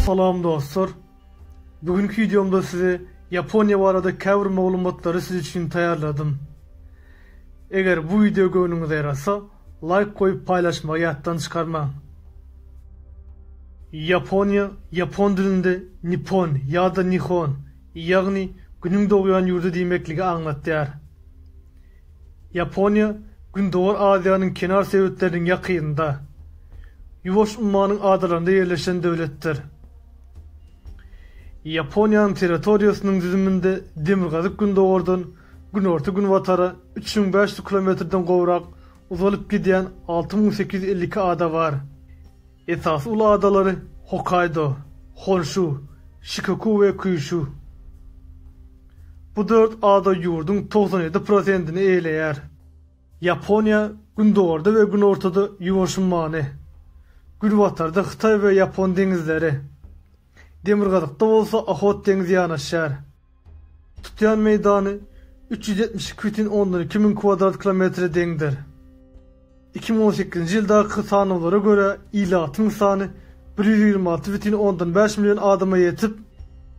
Salam dostlar. Bu günki wideomda size Ýaponiýa barada käbir maglumatlary siz üçin taýýarladym. Eger bu wideo göwnüňize ýarasa, laýk goýup paýlaşmagy ýatdan çykarmaň. Ýaponiýa ýapon dilinde Nippon ýa-da Nihon ýagny Günüň dogýan ýurdy diýmekligi aňlatýar. Ýaponiýa Gündogar Aziýanyň kenar sebitleriniň ýakynynda, Ýuwaş ummanyň adalarynda ýerleşen döwletdir. Ýaponiýanyň territoriýasynyň düzüminde demirgazyk gündogardan günorta-günbatara üç müň bäş ýüz kilometrden gowrak uzalyp gidýän alty müň sekiz ýüz elli iki ada bar. Esasy ulag adalary Hokkaýdo, Honşu, Şikoku we Kýuşu. Bu dört ada ýurduň togsan ýedi prosentini eýeleýär. Ýaponiýa gündogarda we günortada Ýuwaş ummany, günbatarda Hytaý we Ýapon deňizleri, demirgazykda bolsa Ohot deňzi ýanaşýar. Tutýan meýdany üç ýüz ýetmiş iki bütin ondan iki müň kwadrat kilometre deňdir. Iki müň on sekizinji ýyldaky sanawlara görä, ilatyň sany bir ýüz ýigrimi alty bütin ondan bäş million adama ýetip,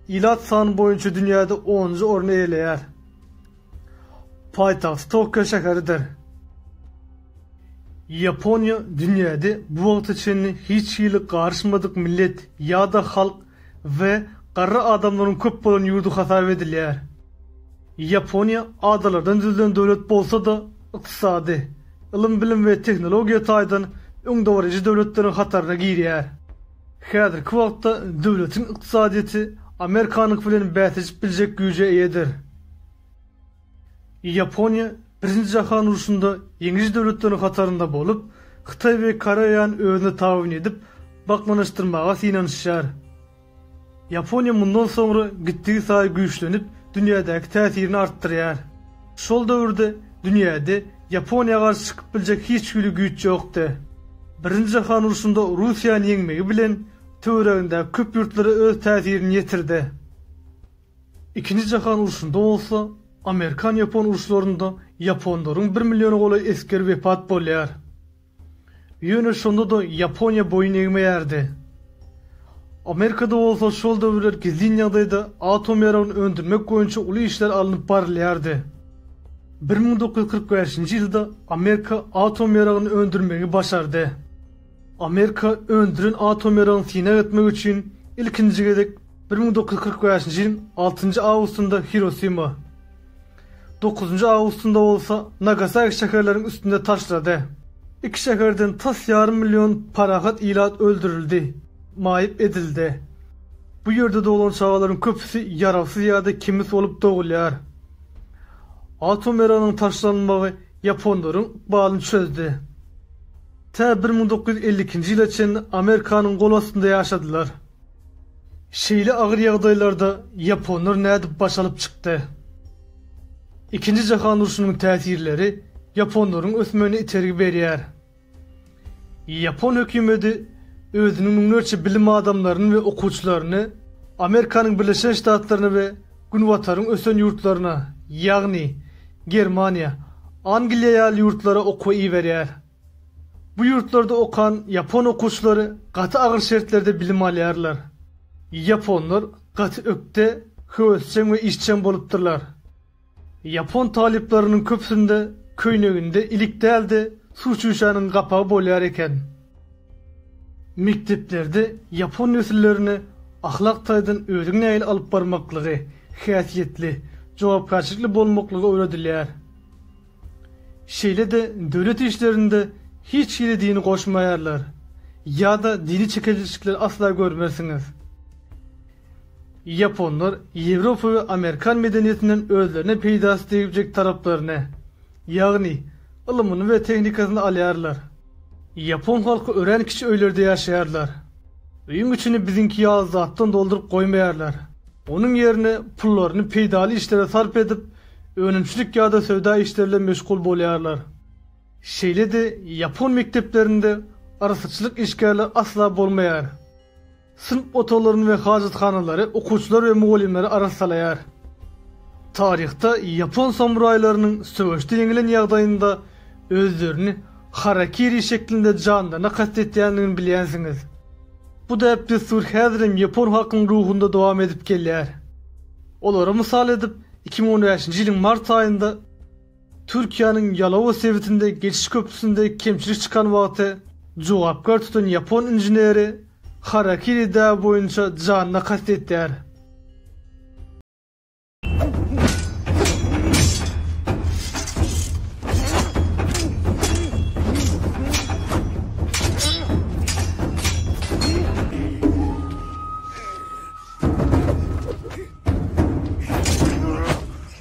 ilat sany boýunça dünýäde onunjy orny eýeleýär. Paýtagt Tokio şäheridir. Ýaponiýa dünýäde bu wagta çenli hiç hili garyşmadyk millet ýa-da halk we garry adamlaryň köp bolan ýurdy hasap edilýär. Ýaponiýa adalardan düzülen döwlet bolsa-da, ykdysady, ylym-bilim we tehnologiýa taýdan öňdebaryjy döwletleriň hataryna girýär. Häzirki wagtda döwletiň ykdysadyýeti Amerikanyňky bilen bäsleşip biljek güýje eýedir. Ýaponiýa Birinji jahan urşunda ýeňiji döwletleriň hatarynda bolup, Hytaý we Koreýany özüne tabyn edip, bakmanyşdyrmaga synanyşýar. Ýaponiýa mundan soňra gitdigisaýy güýçlenip, dünýädäki täsirini artdyrýar. Şol döwürde dünýäde Ýaponiýa garşy çykyp biljek hiç hili güýç ýokdy. Birinji jahan urşunda Russiýany ýeňmegi bilen, töweregindäki köp ýurtlara öz täsirini ýetirdi. Ikinji jahan urşunda bolsa, amerikan-ýapon urşlarynda ýaponlaryň bir milliona golaý esgeri wepat bolýar. Ýöne şonda-da Ýaponiýa boýun egmeýärdi. Amerikada bolsa şol döwürler gizlin ýagdaýda atom ýaragyny öndürmek boýunça uly işler alnyp barylýardy. Bir müň dokuz ýüz kyrk bäşinji ýylda Amerika atom ýaragyny öndürmegi başardy. Amerika öndüren atom ýaragyny synag etmek üçin ilkinji gezek bir müň dokuz ýüz kyrk bäşinji ýylyň altynjy awgustynda Hirosima, Dokuzynjy awgustynda bolsa Nagasaki şäherleriň üstüne taşlady. Iki şäherden tas ýarym million parahat ilat öldürildi, maýyp edildi. Bu ýerde doglan çagalaryň köpüsi ýarawsyz ýa-da kemis bolup dogulýar. Atom erygynyň taşlanmagy ýaponlaryň ykbalyny çözdi. Tä bir müň dokuz ýüz elli ikinji ýyla çenli Amerikanyň gol astynda ýaşadylar. Şeýle agyr ýagdaýlarda ýaponlar nädip baş alyp çykdy? Ikinji jahan urşunyň täsirleri ýaponlaryň ösmegine itergi berýär. Ýapon hökümeti özüniň müňlerçe bilim adamlaryny we okuwçylaryny Amerikanyň Birleşen Ştatlaryna we Günbataryň ösen ýurtlaryna, ýagny Germaniýa, Angliýa ýaly ýurtlara okuwa iberýär. Bu ýurtlarda okan ýapon okuwçylary gaty agyr şertlerde bilim alýarlar. Ýaponlar gaty ökde, höwesjeň we işjeň bolupdyrlar. Ýapon talyplarynyň köpüsinde köýneginde ilik däl-de, suw çüýşäniň gapagy bolýar eken. Mekdeplerde ýapon nesillerine ahlak taýdan özüňi nähili alyp barmaklygy, häsiýetli, jogapkärçilikli bolmaklygy öwredilýär. Şeýle-de döwlet işlerinde hiç hili dini goşmaýarlar ýa-da dini çekeleşikleri asla görmersiňiz. Ýaponlar Ýewropa we Amerikan medeniýetinden özlerine peýdasy degjek taraplaryny, ýagny ylmyny we tehnikasyny alýarlar. Ýapon halky örän kiçi öýlerde ýaşaýarlar. Öýüň içini biziňki ýaly zatdan dolduryp goýmaýarlar. Onuň ýerine pullaryny peýdaly işlere sarp edip, önümçilik ýa-da söwda işleri bilen meşgul bolýarlar. Şeýle-de ýapon mekdeplerinde arassaçylyk işgärleri asla bolmaýar. Synp otaglaryny we hajathanalary okuwçylar we mugallymlary arassalaýar. Taryhda ýapon samuraýlarynyň söweşde ýeňilen ýagdaýynda özlerini harakiri şeklinde janlaryna kast etýändigini bilýänsiňiz. Bu däp-dessur häzirem ýapon halkynyň ruhunda dowam edip gelýär. Olary mysal edip, iki müň on bäşinji ýylyň mart aýynda, Türkiýäniň Ýalowa sebitinde geçiş köprüsinde kemçilik çykan wagty jogapkär tutan ýapon inženeri harakiri däbi boýunça janyna kast etýär.